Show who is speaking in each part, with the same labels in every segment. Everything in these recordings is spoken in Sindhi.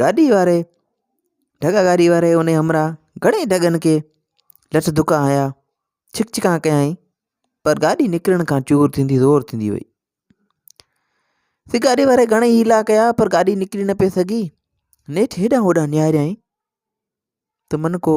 Speaker 1: گاڏي واري ڍڳا گاڏي واري ان جي همراهه گهڻي ئي ڍڳن کي لٺ ڌڪا هنيا ڇڪ ڇڪان ڪيائين پر گاڏي نڪرڻ کان چور ٿيندي زور ٿيندي وئي سي گاڏي واري گهڻي ئي حيلا ڪيا پر گاڏي نڪري نه پئي سگهي نيٺ هيڏانهن هوڏانهن نهاريائين ته منکو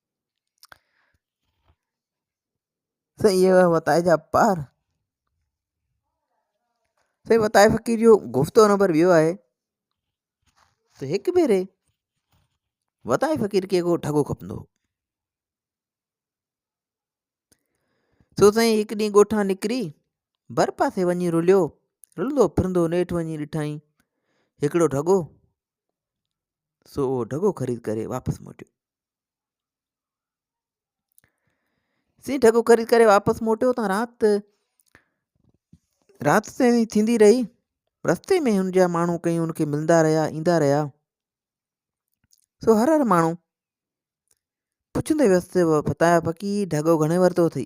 Speaker 1: سائين اهي وتائي جا پار سائين وتائي فقير جو گفتو نمبر ٻيو آهي ته هڪ ڀيري وتائي فقير کي ڪو ڍڳو کپندو هو سو سائين هڪ ڏينهن ڳوٺان نڪري ڀر پاسي وڃي رليو رلندو ڦرندو نيٺ وڃي ڏٺائين هڪڙو ڍڳو سو اهو ڍڳو خريد ڪري واپس موٽيو سين ڍڳو خريد ڪري واپس موٽيو تان رات رات تائين ٿيندي رهي رستي ۾ هن جا ماڻهو ڪئين هن کي ملندا رهيا ايندا رهيا سو هر هر ماڻهو پڇندي ويس ته فتاح فقير ڍڳو گهڻي ورتو اٿئي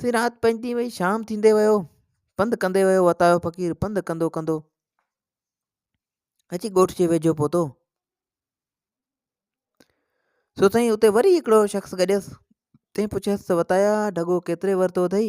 Speaker 1: سي رات پئجي وئي شام ٿيندي ويو پنڌ ڪندي ويو وتايو فقير پنڌ ڪندو ڪندو اچي ڳوٺ جي ويجهو پهتو سو سائين اتي وري هڪڙو شخص گڏيس تنهن پڇيس ته وتايا ڍڳو ڪيتري ورتو اٿئي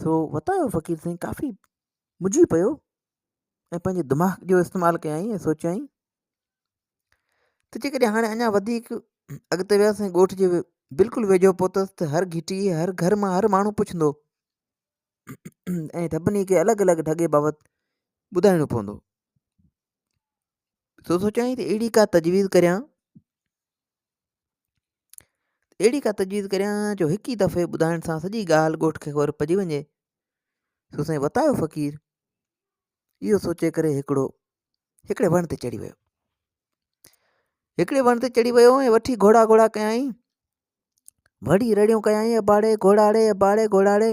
Speaker 1: سو وتايو فقير سائين ڪافي مجھي پيو ۽ پنهنجي دماغ جو استعمال ڪيائين ۽ سوچيائين ته جيڪڏهن هاڻي اڃا وڌيڪ اڳتي ويس ۽ ڳوٺ جي بلڪل ويجهو پهتس ته هر گهٽي هر گهر مان هر ماڻهو پڇندو ۽ سڀني کي الڳ الڳ ڍڳي بابت ٻڌائڻو پوندو سو سوچيائين ته اهڙي ڪا تجويز ڪريان اهڙي ڪا تجويز ڪريان جو هڪ ئي دفعي ٻڌائڻ سان سڄي ڳالهه ڳوٺ کي خبر پئجي وڃي سو سائين وتايو فقير اهو سوچي ڪري هڪڙو هڪڙي وڻ تي چڙهي ويو هڪڙي وڻ تي چڙهي ويو ۽ وٺي گهوڙا گهوڙا ڪيائين وڙي رڙيون ڪيائين اباڙي گهوڙاڙي اباڙي گهوڙاڙي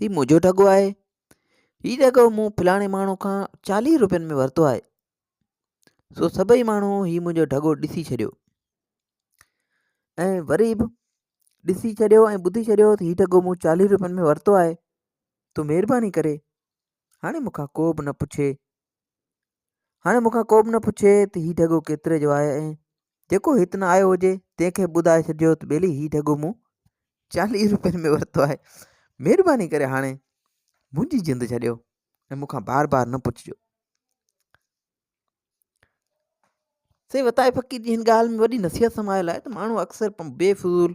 Speaker 1: ھي منھنجو ڍڳو آھي. ھي ڍڳو مون فلاڻي ماڻھوء کان چاليھھ روپين ۾ ورتو آھي. سو سڀئي ماڻھو ھي منھنجو ڍڳو ڏسي ڇڏيو. ۽ وري بھ ڏسي ڇڏيو ۽ ٻڌي ڇڏيو تھ ھي ڍڳو مون چاليھھ روپين ۾ ورتو آھي. تون مھرباني ڪري ھاڻي مون کان ڪو بھ نھ پڇي. هاڻي مون کان ڪو به نه پڇي ته هي ڍڳو ڪيتري جو آهي ۽ جيڪو هت نه آيو هجي تنهن کي ٻڌائي ڇڏجو ته ٻيلي هي ڍڳو مون چاليهه روپين ۾ ورتو آهي مهرباني ڪري هاڻي منهنجي جند ڇڏيو ۽ مون کان بار بار نه پڇجو سي وتائي فقير جي هن ڳالهه ۾ وڏي نصيحت سمايل آهي ته ماڻهو اڪثر بي فضول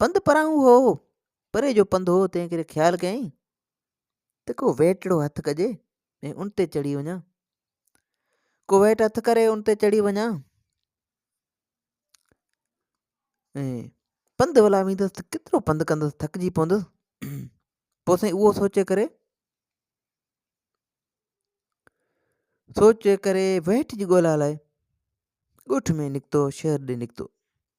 Speaker 1: پنڌ پرائون هو پري جو پنڌ هو تنهن ڪري خيال ڪيائين ته ڪو ويٽڙو هٿ ڪجي ۽ ان تي چڙهي وڃان ڪو ويٽ هٿ ڪري ان تي چڙهي وڃان ۽ پنڌ ولا ويندس ته ڪيترو پنڌ ڪندس ٿڪجي پوندس پوء سائين اهو سوچي ڪري سوچي ڪري ويٽ جي ڳولا لاء ڳوٺ ۾ نڪتو شهر ڏي نڪتو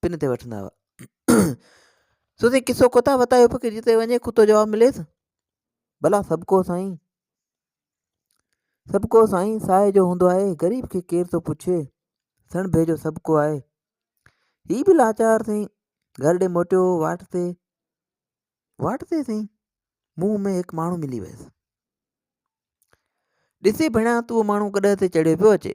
Speaker 1: پن تي وٺندا هئا. سو سائين قصو ڪوتا وتا جو فقير جتي وڃي ڪتو جواب مليس ڀلا سڀ ڪو سائين سڀ ڪو سائين ساهي جو هوندو آهي غريب کي ڪير ٿو پڇي سڻ ڀيجو سڀ ڪو آهي هي به لاچار سائين گهر ڏي موٽيو واٽ تي واٽ تي سائين منهن ۾ هڪ ماڻهو ملي ويس ڏسي ڀيڻا تون ماڻهو ڪڏهن تي چڙهيو پيو اچي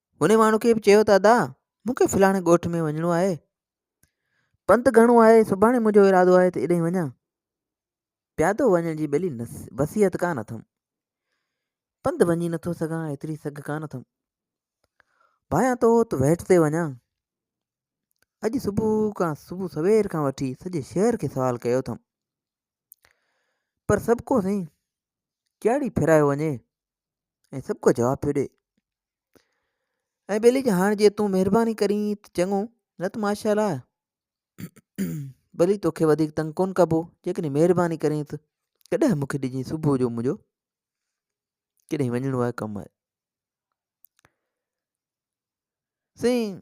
Speaker 1: هن ماڻهوکي به چيو ته ادا مون کي فلاڻي ڳوٺ ۾ وڃڻو آهي. پنڌ گهڻو آهي، سڀاڻي منهنجو ارادو آهي ته اڏهين وڃان. پيادو وڃڻ جي ٻلي وصيحت ڪا نه اٿم. پنڌ وڃي نٿو سگهان، ايتري سگهه ڪا نه اٿم. ڀايان تو ته ويٽ تي وڃان. اڄ صبح کان صبح سوير کان وٺي سڄي شهر کي سوال ڪيو اٿم. پر سڀ ڪو سائين ڪهڙي ڦيرايو وڃي. ۽ سڀ ڪو جواب پيو ڏي ۽ ٻيلي جي هاڻ جي تون مهرباني ڪرين ته چڱو نه ته ماشا الله ٻلي توکي وڌيڪ تنگ ڪون ڪبو جيڪڏهن مهرباني ڪرين ته ڪڏهن مونکي ڏجين صبح جو منهنجو ڪڏهن وڃڻو آهي ڪم آهي سائين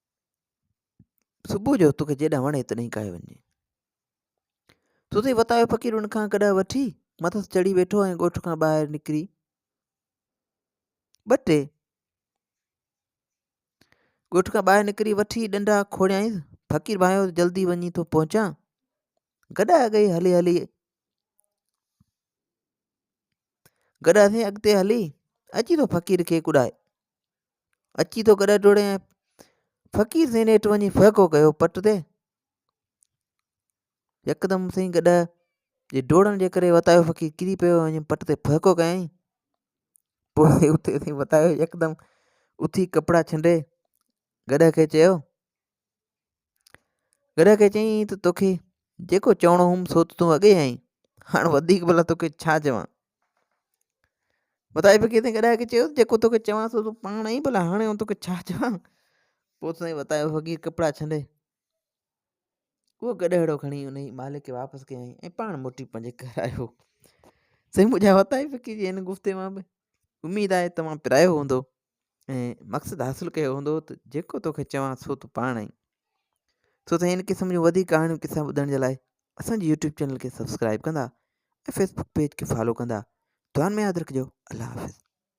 Speaker 1: صبح جو توکي جيڏا وڻي تڏهن ڪاهي وڃجي. سو تي وتايو فقير ان کان ڪڏهه وٺي مٿس چڙهي ويٺو ۽ ڳوٺ کان ٻاهر نڪري ٻه ٽي ڳوٺ کان ٻاهر نڪري وٺي ڏنڊا کوڙيائينس فقير ڀانيو جلدي وڃي ٿو پهچان گڏا گئي هلي هلي گڏا سين اڳتي هلي اچي ٿو فقير کي ڪڏائي اچي ٿو گڏهه ڊوڙي ۽ فقير سائين هيٺ وڃي ڦهڪو ڪيو پٽ تي يڪدم سائين گڏهه جي ڊوڙڻ جي ڪري وتايو فقير ڪري پيو وڃي پٽ تي ڦهڪو ڪيائين پوء اتي سائين وتايو يڪدم اٿي ڪپڙا ڇنڊي گڏهه کي چيو گرهه کي چيائين ته توکي جيڪو چوڻو هئم سو ته تون اڳي آئين هاڻ وڌيڪ ڀلا توکي ڇا چوان وتايي فقير سائين گڏاهه کي چيو جيڪو توکي چوان سو تون پاڻ آئين ڀلا هاڻي آئون توکي ڇا چوان پوء سائين وتايو فقير ڪپڙا ڇنڊي اهو گڏهڙو کڻي ان جي مالڪ کي واپس ڪيائين ۽ پاڻ موٽي پنهنجي گهر آيو سائين منهنجا وتايي فقير جي هن گفتي مان به اميد آهي توهان پرايو هوندو ۽ مقصد حاصل ڪيو هوندو ته جيڪو توکي چوان سو تون پاڻ آئين سو ته هن قسم جون وڌيڪ ڪهاڻيون قصا ٻڌڻ جي لاء اسانجي يوٽيوب چينل کي سبسڪرائب ڪندا ۽ فيسبوڪ پيج کي فالو ڪندا دعا ۾ ياد رکجو الله حافظ